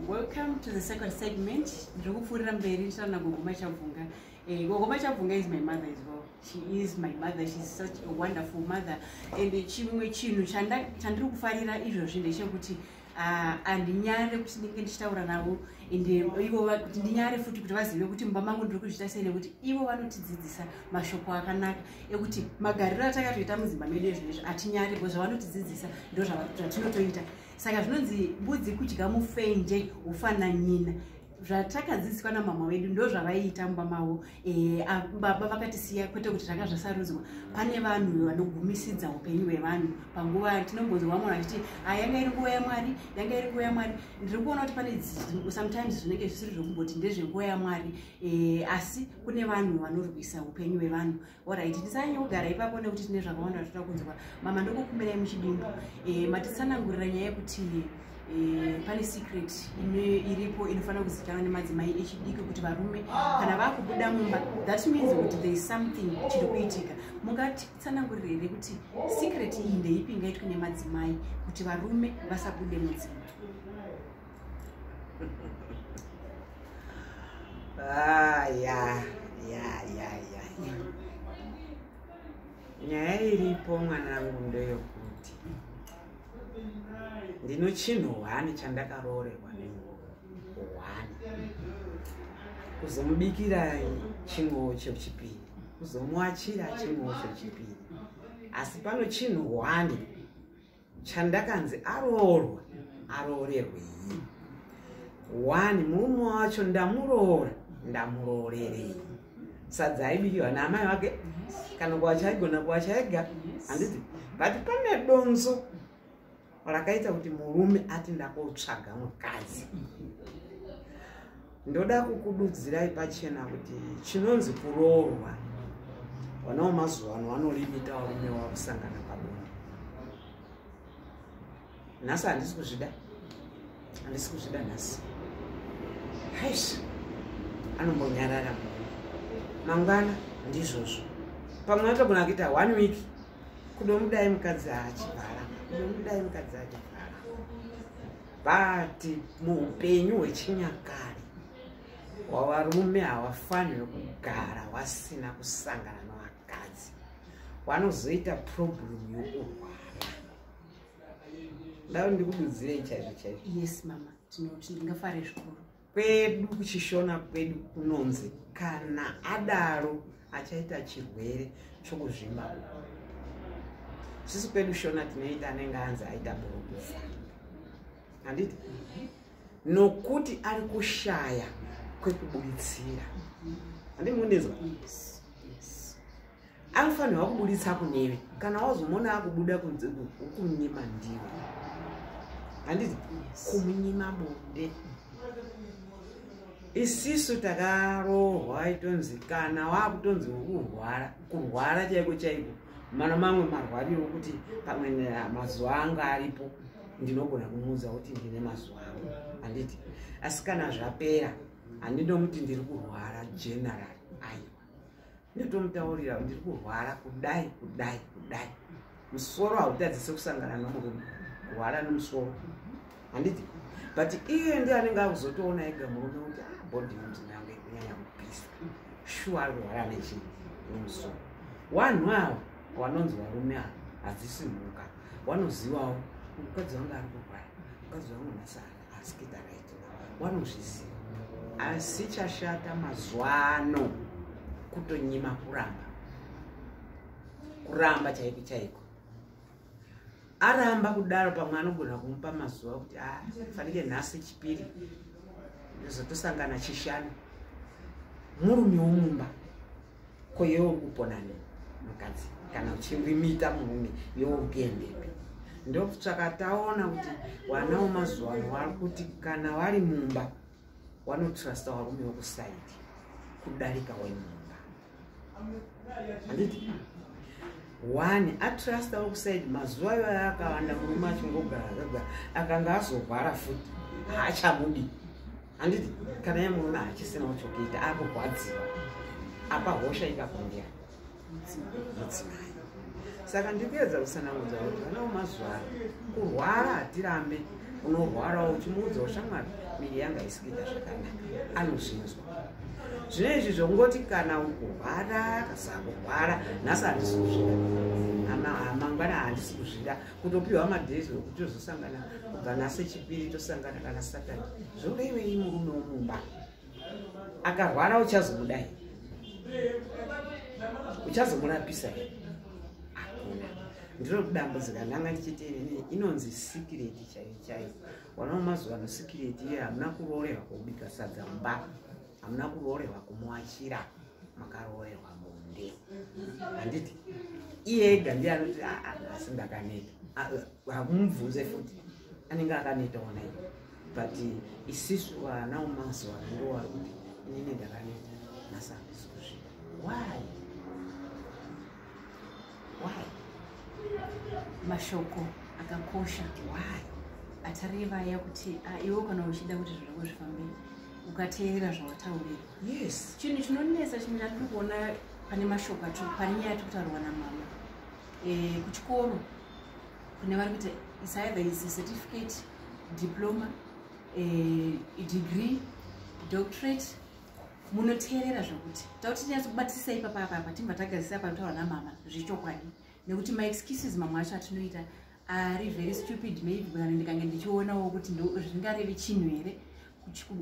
welcome to the second segment ndiri kupfuurira mberi ndichitaura nagogo machabvunga eh, gogo machabvunga is my mother as well she is my mother she is such a wonderful mother and chimwe chinhu chandiri kufarira izvozvi ndechekuti ah, handinyare kuti ndinge ndichitaura navo and eh, ivo kuti ndinyare futi kuti vazive kuti mumba mangu ndiri kuzviita sei nekuti ivo vanotidzidzisa mashoko akanaka ekuti magariro atakatoita mudzimba medu ezvinezvi hatinyare bcause zvavanotidzidzisa ndo zvatinotoita saka zvinonzi mbudzi kudya mufenje ufananyina zvatakadzidziswa namama vedu ndo zvavaiita mumba mavo eh, baba vakatisiya kwete kuti zvanga zvasarudzwa pane vanhu vanogumisidza upenyu hwevanhu panguva tinombonzwa vamwe vachiti ah, yanga iri nguva yamwari yanga iri nguva yamwari ndiri kuona kuti pane sometimes zvinenge zvisiri zvokumboti ndezvenguva yamwari eh, asi kune vanhu vanorwisa upenyu hwevanhu Alright, tisanyogara ipapo nekuti tine zvakawanda zvatoda kunzwa. Mama ndokukumirai muchidimbu. Eh, matitsanangurira nyaya yekuti eh, pane secret ine iripo inofanira kuzikanwa nemadzimai echidiki kuti varume kana vakubuda mumba that means kuti there is something chiri kuitika mungatitsanangurira here kuti secret iyi ndeipi ingaitwe nemadzimai kuti varume vasabude mudzimba Ah, yeah, yeah, yeah, yeah. nyaya iripo mwanangu ndeyokuti ndino chinhu hwani chandakaroorerwa nehwani kuzomubikira chinguwo chechipiri kuzomuachira chinguwo chechipiri asi pano chinhu hwani chandakanzi aroorwa aroorerwei one murume wacho ndamuroora ndamuroorerei sadza aibikirwa naamai vake kana kuwacha aigona kuwacha ega handiti but pane donzo rakaita kuti murume ati ndakotsvaga mukadzi ndoda kukududzirai pachena kuti chinonzi kuroorwa vana wemazuva ano vanolimita varume wakusangana pabonde nhasi handisi kuzvida handisi kuzvida nhasi hais anombonyarara mune mangwana ndizvozvo pamwe vatogona kuita one week kudomudai mukadzi achivhara kudomudai mukadzi achivhara but muupenyu hwechinyakare hwavarume havafanire kugara wasina kusangana nevakadzi wanozoita problem yokurwara ndava ndikududzirei chaizvo chaizvo yes mama tinoti ndingafare zvikuru kwedu kuchishona kwedu kunonzi kana adaro achaita chirwere chokuzvimba sisi kwedu shona tinoita anenge anzi aita borokufa handiti nokuti ari kushaya kwekuburitsira handimundinzwa anofanirwa kubuditsa kuneve kana wazomona akubuda kunze kumunyima ndiwe handiti kumunyima bonde isisu takarohwa itonzi kana wakutonzi kurwara kurwara chaiko chaiko mana mamwe marwariro okuti pamwe mazuva anga aripo ndinogona kumuudza kuti ndine mazuva angu handiti asi kana zvapera handinomuti ndiri kurwara general ndatomutaurira ndiri kurwara kudai kudai kudai musoro hautadzise kusangana nomurume kurwara nomusoro handiti but iye ndi anenge akuzotoona ega murume kuti ah, body yonzi nange kunyanya kupisa shuwa ari kurwara nechii nomusoro wanhu avo wanonzi varume avo hadzisi mhuka wanozivawo mukadzi wange ari kurwara mukadzi wangu nasara askida right wanozviziva asi chashata mazuva ano kutonyima kuramba kuramba chaiko chaiko aramba kudaro pamwe anogona kumupa mazuva kuti ah, fanike nhasi chipiri ndozotosangana chishanu murume womumba ko yewo uri kupona ne mukadzi kana uchirimita murume yewo uri kuendepi ndokutsvaka taona kuti vana wemazuva ano vari kuti kana vari mumba wanotrusta varume wekusaidi kudarika wemumba handiti one atrusta wekusaidi mazuva iwayo akawanda murume achingogara akanga azorwara futi haachamudi handiti kana yamuona hachisinawo chokuita akurwadziwa apa hosha ikakundira mudzimai saka ndikuedza kusanangudza kuti vanawo mazuva ano kurwara hatirambe unorwarawo uchimuudzawo shamwari miri yanga isikuita zvakanaka anozvinzwa zvino izvi zvongoti kana ukurwara kasakurwara nhasi handisi kuzvida amangwana handisi kuzvida kutopiwa madays wekuti tozosangana kubva nhasi chipiri tosangana kana saturday zvoda iwe i murume womumba akarwara uchazomudai uchazomurapisa he hakuna ndiro kudambudzika ndanga ndichiti inini inonzi sikireti chaiyo chaiyo wanawo mazuva ano sikireti iye hamuna kuroorerwa kubika sadza mumba hamuna kuroorerwa kumuachira makaroorerwa bonde handiti iye ega ndiye anoti ah, ah, asi ndakaneta ah, eh, hamumubvunze futi anenge akaneta ona iyo but isisu vana umazuva ndo wari kuti inini ndakaneta nasakusukusvika why why mashoko akakosha why atareva aya kuti ah, iwe kana uchida kuti zviro zvako zvifambe ukateerera zvawataurirwa yes chinhu chinonetsa chimwe chatiri kuona pane mashoko acho pane nyaya yatiri kutaurwa namama eh, kuchikoro kune vari kuita is either is a certificate diploma eh, degree doctorate munoteerera zvokuti tauti tinyatsobatisisa ipapa apa apa timba tagazisa apa taura namama zvechokwadi nekuti maexcuses mamwe acho atinoita ari very stupid maybe kana ndikange ndichionawo kuti zvingarevi chinhu here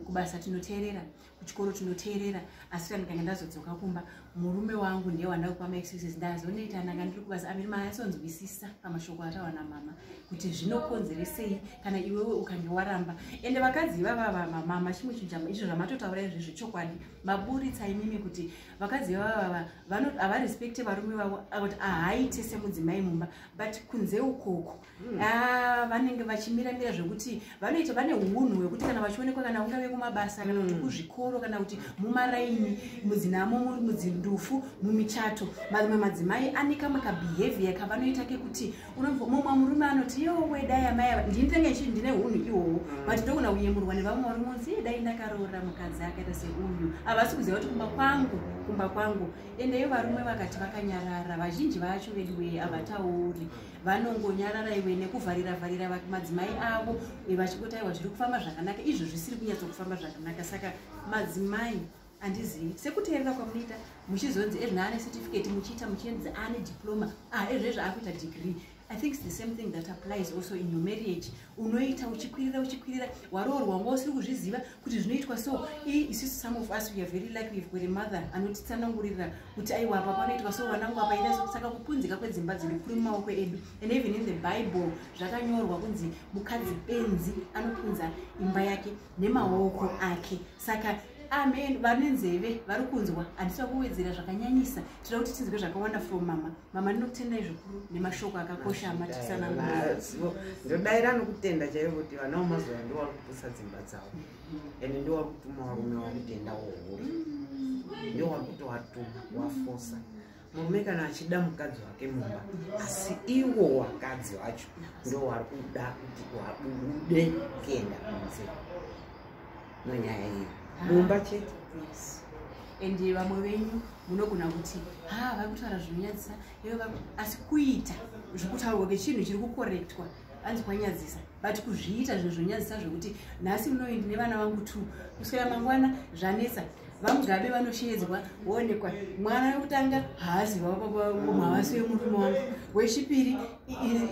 kubasa tinoteerera kuchikoro tinoteerera asi kana ndikange ndazodzoka kumba murume wangu ndiye wanda kupa maexcuses ndazonoita ndanga ndiri kubasa amiri maasonzwisisa pamashoko atawa namama kuti zvinokonzeresei kana iwewe ukange waramba ende vakadzi ivava vamamama chimwe chijama izvo zvamatotaura izvezvo chokwadi maburitsa imimi kuti vakadzi ivavava havarespekte varume vavo kuti ahaite semudzimai mumba but kunze ukoko Hmm. Ah, vanenge vachimira mira zvekuti vanoita vane unhu hwekuti kana vachionekwa kana ungave kumabasa kana kuti hmm. kuzvikoro kana kuti mumaraini mudzinamo muri mudzindufu mumichato mamwe madzimai ane kamwe kabehavior kavanoita kekuti unomumwe murume anoti yowe dai amai ava ndini tenge chii ndine unhu ihoho hmm. but ndogona kuyemurwa nevamwe varume unzi ye dai ndakaroora mukadzi akaita seuyu havasi kuziva kuti kumba kwangu kumba kwangu endeyo varume vakati vakanyarara vazhinji vacho veduwee havatauri vanongonyarara iwe nekuvharira vharira madzimai avo vachingotaiwa zviri kufamba zvakanaka izvo zvisiri kunyatsa kufamba zvakanaka saka madzimai handizivi sekuteerera kwamunoita muchizonzi ezvina ane certificate muchiita muchiendza ane diploma ah, ezvezvo akuita degree i think the same thing that applies also in your marriage unoita uchikwirira uchikwirira waroorwa wanga usiri kuzviziva kuti zvinoitwa so isisu some of us weare very lucky we've got a mother anotitsanangurira kuti aiwa apa panoitwa so vanangu apaita so saka kupunzika kwedzimba dzedu kuri mumaoko edu and even in the bible zvakanyorwa kunzi mukadzi benzi anopunza imba yake nemaoko ake saka amen vane nzeve vari kunzwa handisa kuwedzera zvakanyanyisa tinoda kuti tinzwe zvakawanda from mama mama ndinokutendai zvikuru nemashoko akakosha amatisanaazivo ndodaira nokutenda chaivo kuti vana vamazuva ndo vari kupusa dzimba dzavo mm-hmm. ende ndo vari kutuma varume vakutenda wohuri ndo vari kutovatuma wafosa murume kana achida mukadzi wake mumba asi iwo wakadzi wacho ndo wari kuda kuti wabude kuenda kunze no nyaya iyo ah. mumba chete yes and vamwe venyu munogona kuti ha vari kutaura zvinonyadzisa asi kuita zvekutaurwa kechinhu chiri kukorektwa anzi kwanyadzisa but kuzviita zvinhu zvonyadzisa zvekuti nhasi munoindi nevana vangu two kuswera mangwana zvanetsa vamugabe vanoshedzwa woonekwa mwana wekutanga haazi vavababa vamavasi vemurume wangu wechipiri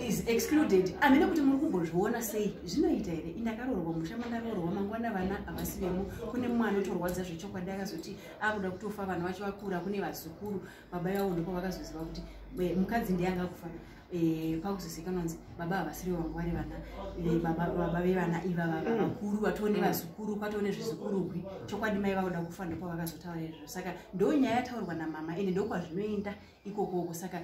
is excluded amene kuti muri kumbozviona sei zvinoita here indakarorwa musha mandarorwa mangwana vana havasi vemo kune mumwe anotorwadza zvechokwadi akazoti akuda kutofa vana vacho vakura kune vazukuru baba yavo ndipo vakazoziva kuti eh, mukadzi ndiye anga kufa Eh, pakuzoseka nonzi baba havasiri vangu vari vana eh, baba vevana ivava mm. vakuru vatone mm. vazukuru kwatone zvizukurugwi chokwadi mai vakuda kufa ndipo vakazotaura izvo saka ndo nyaya yataurwa namama ende ndokwazvinoenda ikokoko saka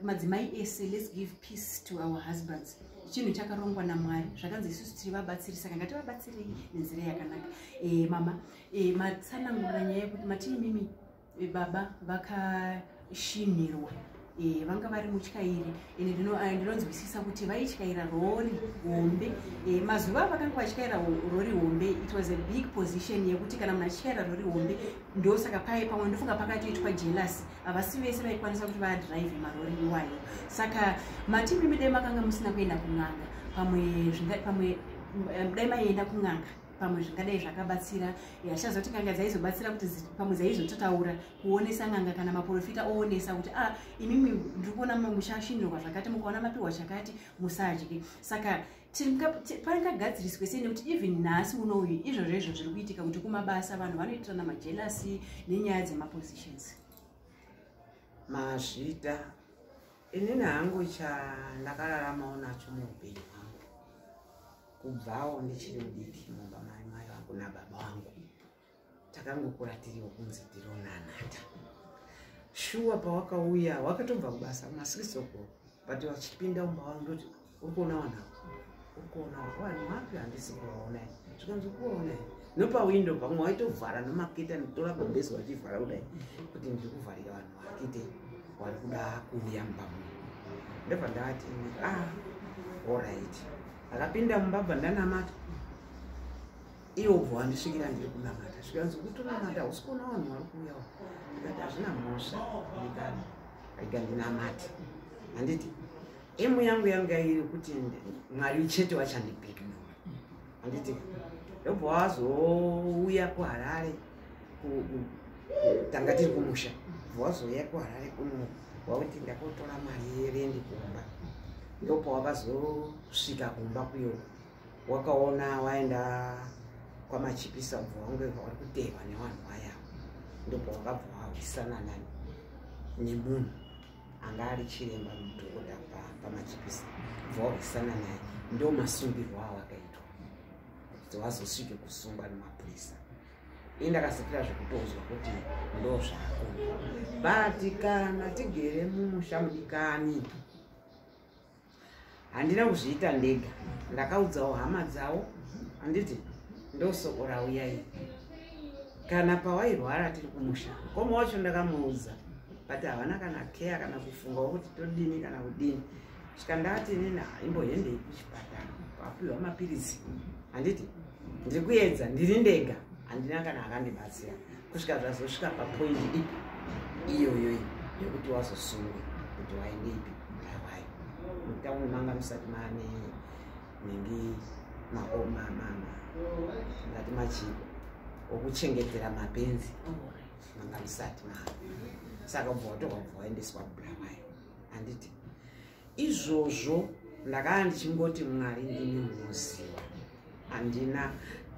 madzimai ese let's give peace to our husbands chinhu chakarongwa namwari zvakanzi isusu tiri vabatsiri saka ngativabatsirei nenzira yakanaka e, mama e, eh, matsanangura nyaya yekuti matii mimi e, baba vakashinhirwa e, vanga vari mutyairi ende eh, ndinonzwisisa dino, kuti vaityaira rori hombe e, mazuva avakanga vatyaira rori hombe it was a big position yekuti kana munhu achityaira rori hombe ndosaka paye pamwe ndofunga pakatoitwa jealous havasi vese vaikwanisa kuti vadrive marori iwayo saka matimi midai makanga musina kuenda kun'anga pamwe pamwe eh, dai maienda kun'anga pamwe zvingadai zvakabatsira hachazoti n'anga dzaizobatsira kuti pamwe dzaizototaura kuonesa n'anga kana maprofita oonesa kuti a ah, imimi ndiri kuona mushashinirwa zvakati mukaona mapiwa chakati musadye saka paringagadziriswe sei nekuti even nhasi unouyu izvozvo izvo zviri kuitika kuti kumabasa vanhu vanoitirana majelasi nenyaya dzemapositions mazvita inini hangu chandakararamawo nacho muupenyu hwangu kubvawo ndichiri mudiki mumba mai mai vangu nababa vangu takangokura tiriwo kunzi tironanata shuwa pawakauya wakatobva kubasa masix o'clock but vachipinda umba wavo ndoti uri kuona vanhu avo uri kuona vanhu vapi handisi kuvaona zvikanzi kuona nopawindo pamwe waitovhara nomakita nditora gobesi wachivhara kudai kuti ndiri kuvharira vanhu vakite wari kuda kuuya mumba muno ndobva ndavati ah orit akapinda mumba bva ndanamata iwe ubva wandisvikira ndiri kunamata zvikanzi kutonamata hausi kuona vanhu vari kuuyawo ndikati hazvina mhosva ndikati rega ndinamati handiti emu yangu yanga iri kuti mwari chete wachandibheki nawo handiti ndobva wazouya kuharare tanga tiri kumusha bva wazouya kuharare kuno wauti ndakotora mari yerendi kumba ndobva wakazosvika kumba kuyo wakaona waenda kwamachipisa ubva wangweva wari kuteerwa nevanhu vaya ndobva wakabva wahwisana nani nemunhu anga ari chiremba mudhokota pamachipisa ubva wahwisana naye ndo masungirwo awakaitwa kuti wazosvike kusungwa nemapurisa ini ndakasipira zvekutonzwa kuti ndo zvako but kana tigere mumusha mudikani handina kuzviita ndega ndakaudzawo hama dzawo handiti ndosoko rauya iri kana pawairwara tiri kumusha koma wacho ndakamuudza but havana kana care kana kufungawo kuti todini kana kudini svikandati nina imbohendei kuchipatara papiwa mapiritsi handiti ndiri kuedza ndiri ndega handina kana akandibatsira kusvika zvazosvika papoint ipi iyoyoyi yekuti wazosungwa kuti waende ipi ndawai mutauni manga musati mane nhingi maomamama ngati machiko okuchengetera mapenzi manga musati maa saka bva watoka bva waendeswa kubulawayo handiti izvozvo ndakanga ndichingoti mwari ndini munoziva handina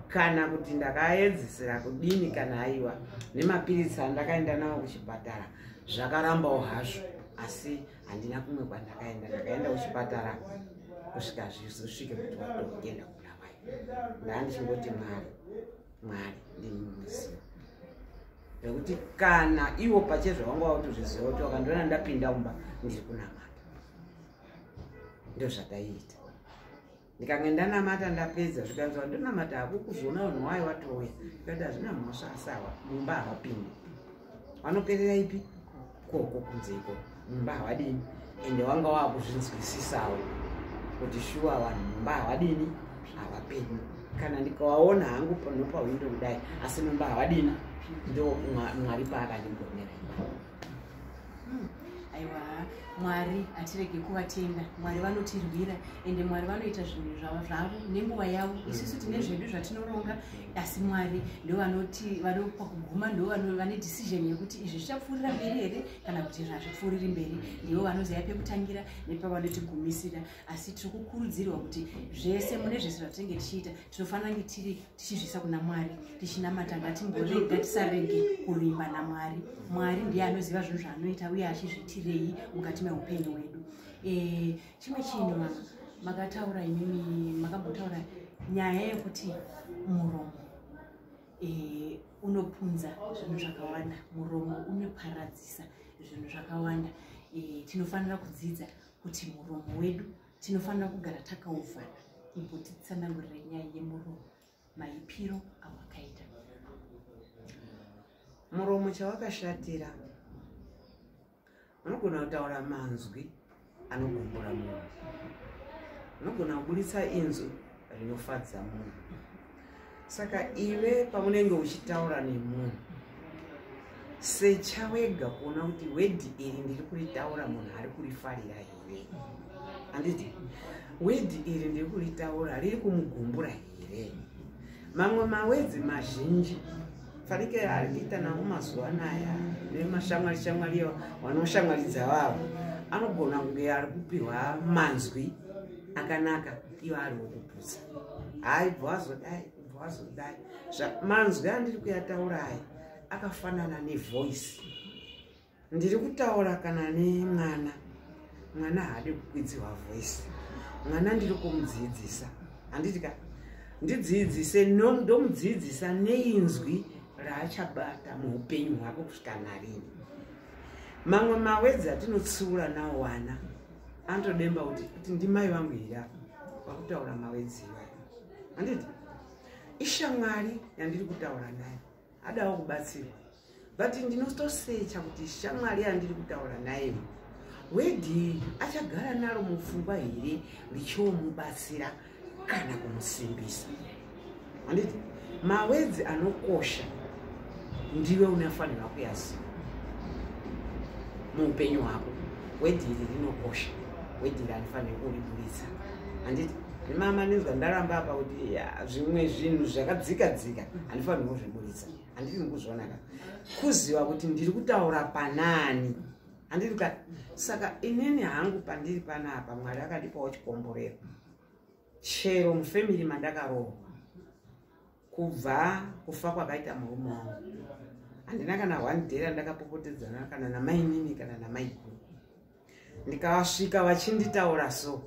kana kuti ndakaedzesera kudini kana aiwa nemapiritsi andakaenda nawo kuchipatara zvakarambawo hazvo asi handina kumwe kwandakaenda ndakaenda kuchipatara kusvika zvizosvike kuti watoenda kuna mai ndaa ndichingoti mwari mwari ndimumuziva nekuti kana iwo pachezvo vanga vakutozviziva kuti vakandiona ndapinda umba ndiri kunamata ndozvataiita ndikange ndanamata ndapedza zvikanzi vandonamata hakukuzoona vanhu wayo watouya ndikati hazvina mhosva asawa mumba havapindi vanoperera ipi koko kunze iko mumba havadini ende wanga waakuzvinzwisisawo kuti shuwa vanhu mumba havadini havapenyu kana ndikawaona hangu panopawindo kudai asi mumba havadini ndo mwari paakandigonera imba hmm, aiwa mwari hatirege kuvatenda mwari vanotirwira ende mwari vanoita zvinhu zvavo nenguva yavo isusu tine zvedu zvatinoronga asi mwari ndovanoti vanopa kuguma ndo vane decision yekuti izvi zvichapfuurira mberi here kana kuti izvi hazvipfuuriri mberi ndivo vanoziva pekutangira nepavanotigumisiira asi tiri kukurudzirwa kuti zvese mune zvese zvatinenge tichiita tinofanira kunge tiri tichizvisa kuna mwari tichinamata ngatimborega tisarege kuvimba namwari mwari ndiye anoziva zvinhu zvaanoita uye achizvitirei mukati meupenyu hwedu Eh, chimwe chinhu mama makataura imimi makambotaura nyaya yekuti muromo e, unopunza zvinhu zvakawanda muromo unoparadzisa zvinhu zvakawanda e, tinofanira kudzidza kuti muromo wedu tinofanira kugara takauvhana imbotitsanangurira nyaya yemuromo maipiro awakaita muromo chawakashatira unogona kutaura manzwi anogumbura munhu unogona kuburitsa inzwi rinofadza munhu saka ive pamunenge uchitaura nemunhu secha wega kuona kuti wedhi iri ndiri kuritaura munhu ari kurifarira here handiti wedhi iri ndiri kuritaura riri kumugumbura here mamwe mawedzi mazhinji fanike ari kuita nawo mazuva anaya nemashamwari shamwari wanoshamwaridza vavo anogona kunge ari kupihwa manzwi akanaka ivo ari wokuputsa hayi bvazodai bvazodai manzwi andiri kuyataura aya akafanana nevoice ndiri kutaura kana nemwana mwana haadi kukwidziwa voice mwana ndiri kumudziidzisa handiti ka ndidziidzise ndomudziidzisa neinzwi raachabata muupenyu hwako kusvika narini mamwe mawedzi atinotsiura nawo wana anotodemba kuti kuti ndimai vangu here apa vakutaura mawedzi iwayo handiti ishamwari yandiri kutaura nayo adawo kubatsirwa but ndinotosecha kuti shamwari yandiri kutaura naye wedhi achagara naro mupfungwa here richiomubatsira kana kumusimbisa anditi mawedzi anokosha ndiwe unafanirwa kuyaziva muupenyu hwako wedhi iri rinokosha wedhi iri anofanira kuriburitsa anditi mama ndinzwa ndaramba apa kuti zvimwe zvinhu zvakadzika dzika handifanirwo zviburitsa handiti ndikuzvionaka kuziva kuti ndiri kutaura panani handiti ka saka inini hangu pandiri panapa mwari akandipawo chikomborero chero mufamily mandakarohwa kubva kufa kwakaita murume wangu handina kana one day randakapopotedzana kana namainini kana namaiguru ndikasvika vachinditaura so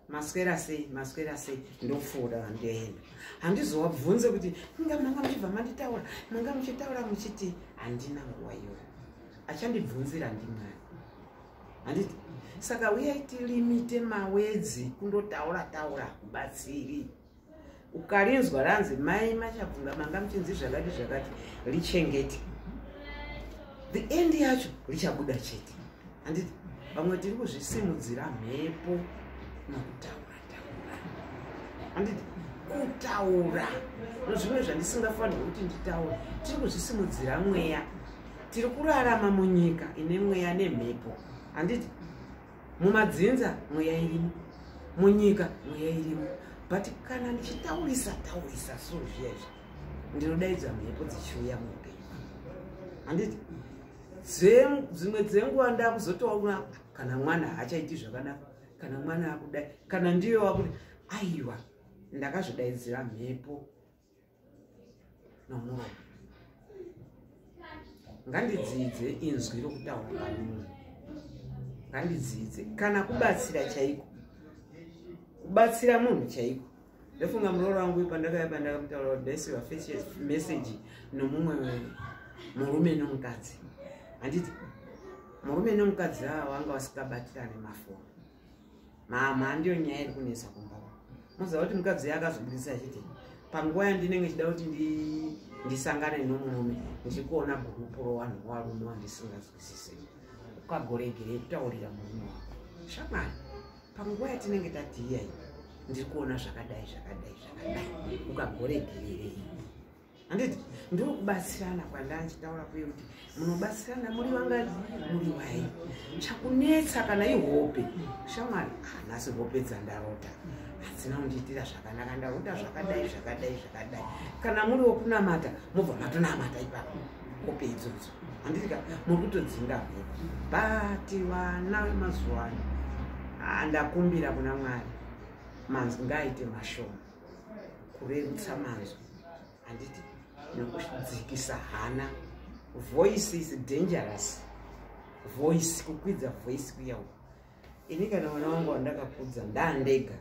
maswera sei maswera sei ndofuura vandoenda handizovabvunze kuti inga manga muchibva manditaura manga muchitaura muchiti handina nguva iyoyo achandibvunzira ndimwari handiti saka uyai tilimite mawedzi kundotaura taura kubatsiri ukarinzwa ranzi mai machabvunga manga muchinzi zvakati zvakati richengete the end yacho richabuda chete handiti vamwe tiri kuzvisimudzira mhepo nokutaura taura handiti kutaura nozvimwe zvandisingafanirwa kuti nditaure tiri kuzvisimudzira mweya tiri kurarama munyika ine mweya nemhepo handiti mumadzinza mweya irimo munyika mweya irimo but kana ndichitaurisa taurisa so zviya izvi ndinodaidza mhepo dzichiuya muupenyu handiti dzimwe dzenguva ndakuzotoona kana mwana haachaiti zvakadaro kana mwana akudai kana ndiyo wakuda aiwa ndakazvidaidzira mhepo nomuromo ngandidzidze inzwi rokutaura pamunhu ngandidzidze kana kubatsira chaiko kubatsira munhu chaiko ndofunga murooro wangu pandakaya pandakamutaura kuti ndaisiva meseji nomumwe murume nomukadzi handiti murume nomukadzi ava vanga vasingabatirane mafoni mama handiyo nyaya iri kunetsa kumba moziva kuti mukadzi uya akazobudisa achiti panguva yandinenge chida kuti ndisangane nomurume ndichikuona gurupu rowanhu warume wandisingazwisise ukagoregerei kutaurira murume wako shamwari panguva yatinenge tatiiyai ndiri kuona zvakadai zvakadai zvakadai ukagoregererei handiti ndokubatsirana kwandanga ndichitaura kuye kuti munobatsirana muri vangani muri wai chakunetsa kana ihope shamwari hanasi ah, hope dzandarota hadzina kundiitira zvakanaka ndarota zvakadai zvakadai zvakadai kana muri wokunamata mobva matonamata ipapo hope idzodzo handitika muri kutodzinga hope but vana vemazuva ano handakumbira ah, kuna mwari manzi ngaaite mashoma kurerutsa manzwi handiti nekudzikisa hana voice is dangerous voice kukwidza voice kuya uku ini kana mwana wangu wandakakudza ndandega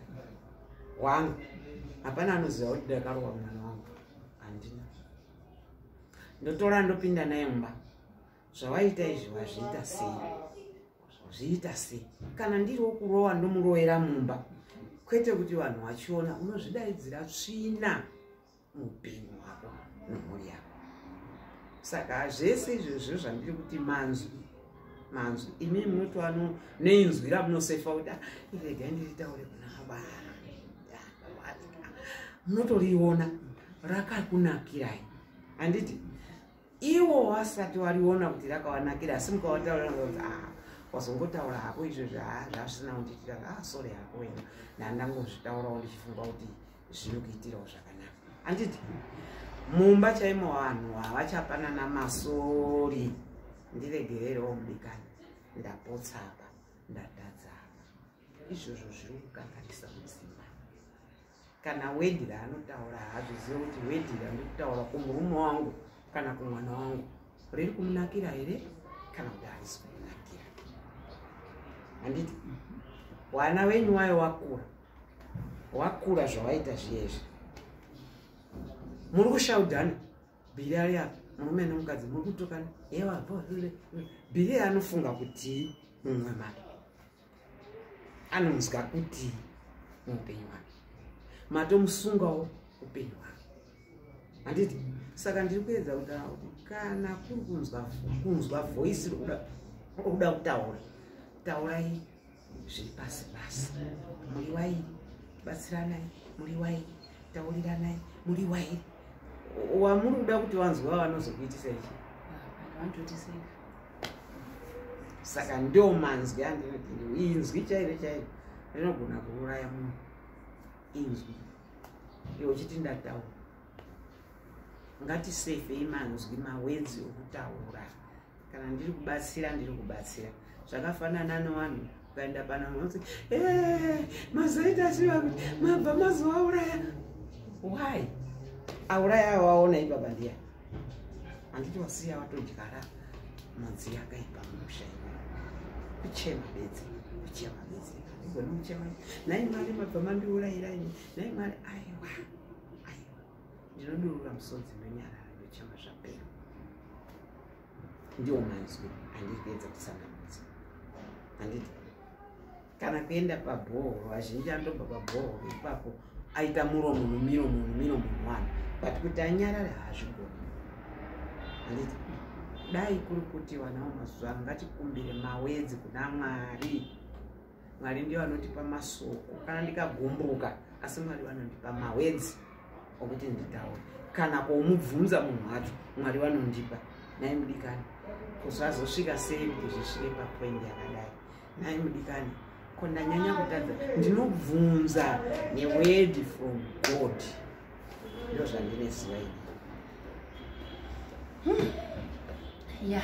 wangu hapana anoziva kuti ndakarowa mwana wangu handina ndotora ndopinda naye mumba zvawaita izvi wazviita sei zviita sei kana ndiri wokurowa ndomuroera mumba kwete kuti vanhu vachiona unozvidaidzira tsvina muupenyu hwako nemhuri yako saka zvese izvozvo zvandiri kuti manzwi manzwi imi munotoano neinzwi ramunosefa kuti ah, irega ndiritaure kuna vana munotoriona rakakunakirai handiti iwo wasati wariona kuti rakawanakira asi mukawataura kuti ah wazongotaura hako izvo zvazvisina kundiitira ah sorry hako wena ndandangozvitaurawo ndichifunga kuti zvinokuitirawo zvakanaka handiti mumba chaimo vanhu havachapanana masori ndiregererewo mudikani ndapotsapa ndatadzapa izvozvo zviri kukanganisa mudzimba kana wedira anotaura haazvizive kuti wedira ndiri kutaura kumurume wangu kana kumwana wangu riri kumunakira here kana kuti harisi kumunakira handiti wana wenyu wayo wakura wakura zvawaita zviyezvi muri kushaudhana bhiri ari apa murume nemukadzi muri kutokana ewa bhiri anofunga kuti mumwe mari anonzwa kuti muupenyu hwake matomusungawo upenyu hwake handiti saka ndiri kuedza kuda kana kuri kunzwa voisi rokuda kutaura taurai zviri pasi pasi muriwai batsiranai muriwai tauriranai muriwai wamuri kuda kuti vanzwa vanozokuitisa ichi ah, saka ndo manzwi andinodii inzwi chairo chairo rinogona kuuraya munhu inzwi iwe uchiti ndataura ngatisevhei manzwi mawedzi okutaura kana ndiri kubatsira ndiri kubatsira zvakafanana nevanhu ukaenda pana mose eh, mazoita chiva kuti mabva mazovauraya why auraya awaona ibaba ndiya handiti wasiya watodyara mudzi yakaipa musha kuchema bedzi kuchema bedzi igona kuchema nai mari mabva mandiurairaini nai mari aiwa aiwa ndinodurura musodzi ndonyarara ndochema zvapera ndiwo manzwi andiri kuedza kutsanangudza handiti kana kuenda pabhoho vazhinji anotobva pabhoho ipapo aita muro munhu miro munhu miro munhu wani but kuti anyarare hazvigoni handiti dai kuri kuti vanawo mazuva ano ngatikumbire mawedzi kuna mwari mwari ndiyo anotipa masoko kana ndikagumbuka asi mwari vanondipa mawedzi okuti nditaure kana kwomubvunza munhu wacho mwari vanondipa nai mudikani kuzvazosvika sei kuti zvisvike papoindi yakadai nai mudikani ko ndanyanya kutadza ndinobvunza newedi from god ndo zvandine ziva ini hmm. ya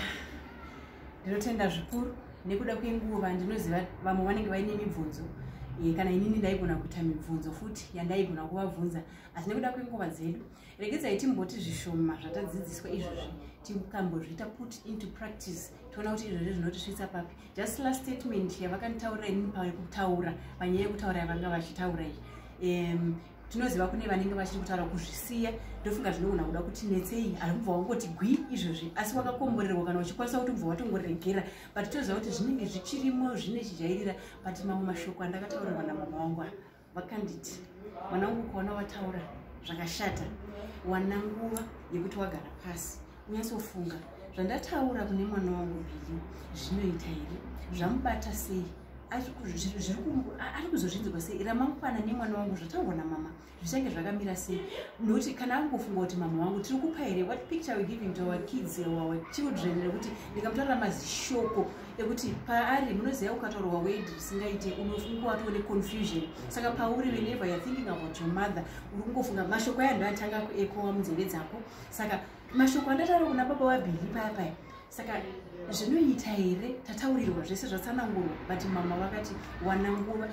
ndinotenda zvikuru nekuda kwenguva ndinoziva vamwe vanenge vaine mibvunzo eh, kana inini ndaigona kuita mibvunzo futi yandaigona kuvabvunza asi nekuda kwenguva dzedu regedzai timboti zvishoma zvatadzidziswa izvozvi tikambozviita put into practice toona kuti izvozvi zvinotisvitsa papi just last statement yavakanditaurira inini pakutaura panyaya yekutaura yavanga vachitaura iyi tinoziva kune vanenge vachiri kutaura kuzvisiya ndofunga zvinogona kuda kuti netsei haikubva wangoti gwi izvozvi asi wakakomborerwa kana uchikwanisa kuti ubva watongoregera but toziva kuti zvinenge zvichirimo zvine chijairira but mamwe mashoko andakataurirwa namama wangu vakanditi mwana wangu ukaona wataura zvakashata wana nguva yekuti wagara pasi Unyasofunga zvandataura kune mwana wangu Billy zvinoita here? Zvamubata sei? ari kuzozvinzirwa sei ramangwana nemwana wangu zvataurwa namama zvichange zvakamira sei nokuti kana angofunga kuti mama wangu tiri kupa here what picture we giving to our kids or our children nekuti ndikamutorera mazishoko ekuti paari munoziva ukataurwa wed risingaite unofunga watove neconfusion saka pauri whenever youare thinking about your mother uri kungofunga mashoko aya ndoatanga kuekowa munzeve dzako saka mashoko andataura kuna baba wabhili paya paya saka zvinoita here tataurirwa zvese zvatsanangurwa but mama vakati wana nguva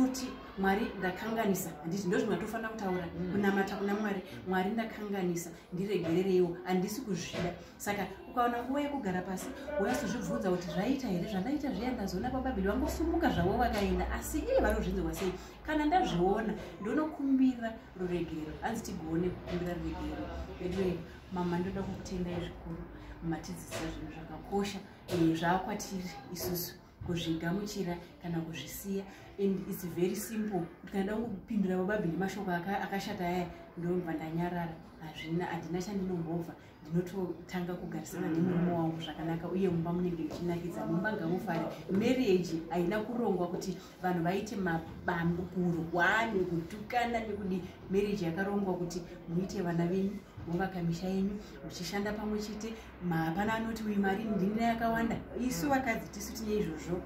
uti mwari ndakanganisa handiti ndozvimwe atofanira kutaura mm. kunamata kuna mwari mwari ndakanganisa ndiregerereiwo handisi kuzvida saka ukaona nguva yekugara pasi wayasozvibvunza kuti zvaita here zvandaita zviya ndazoona bababili vangosumuka zvavo vakaenda asi iye vanozvinzirwa sei kana ndazviona ndonokumbira ruregerero hanzi tigoone kukumbira ruregerero veduwe mama ndoda kukutendai zvikuru matidzisa zvinhu zvakakosha eh, zvaakwatiri isusu kuzvigamuchira kana kuzvisiya and its very simple kuti kana nda kupindura bababhi nemashoko akashata aya ndobva ndanyarara hazvina handina chandinombobva ndinototanga kugarisana nemurume wangu zvakanaka uye mumba munenge ichinakidza mumba ngamufare marriage haina kurongwa kuti vanhu vaite mabambo kurwani kutukana nekudi marriage yakarongwa kuti muite vana venyu movaka misha yenyu muchishanda pamwe chete hapana anoti uyu mari ndinira yakawanda isu vakadzi tisu tine izvozvo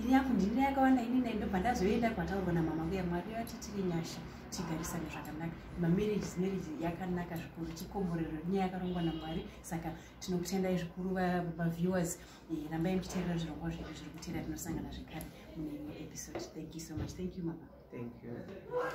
ini yaku ndinira yakawanda inina ndobva ndazoenda kwataurwa namama kuya mwari yatitiri nyasha tigarisane zvakanaka mamarriages marriage yakanaka zvikuru chikomborero nyaya yakarongwa namwari saka tinokutendai zvikuru vaviewers eh, rambai muchiteerera zvirongwa zvedu zviri kuteera tinosangana zvekare mune imwe episode thank you so much thank you mama thank you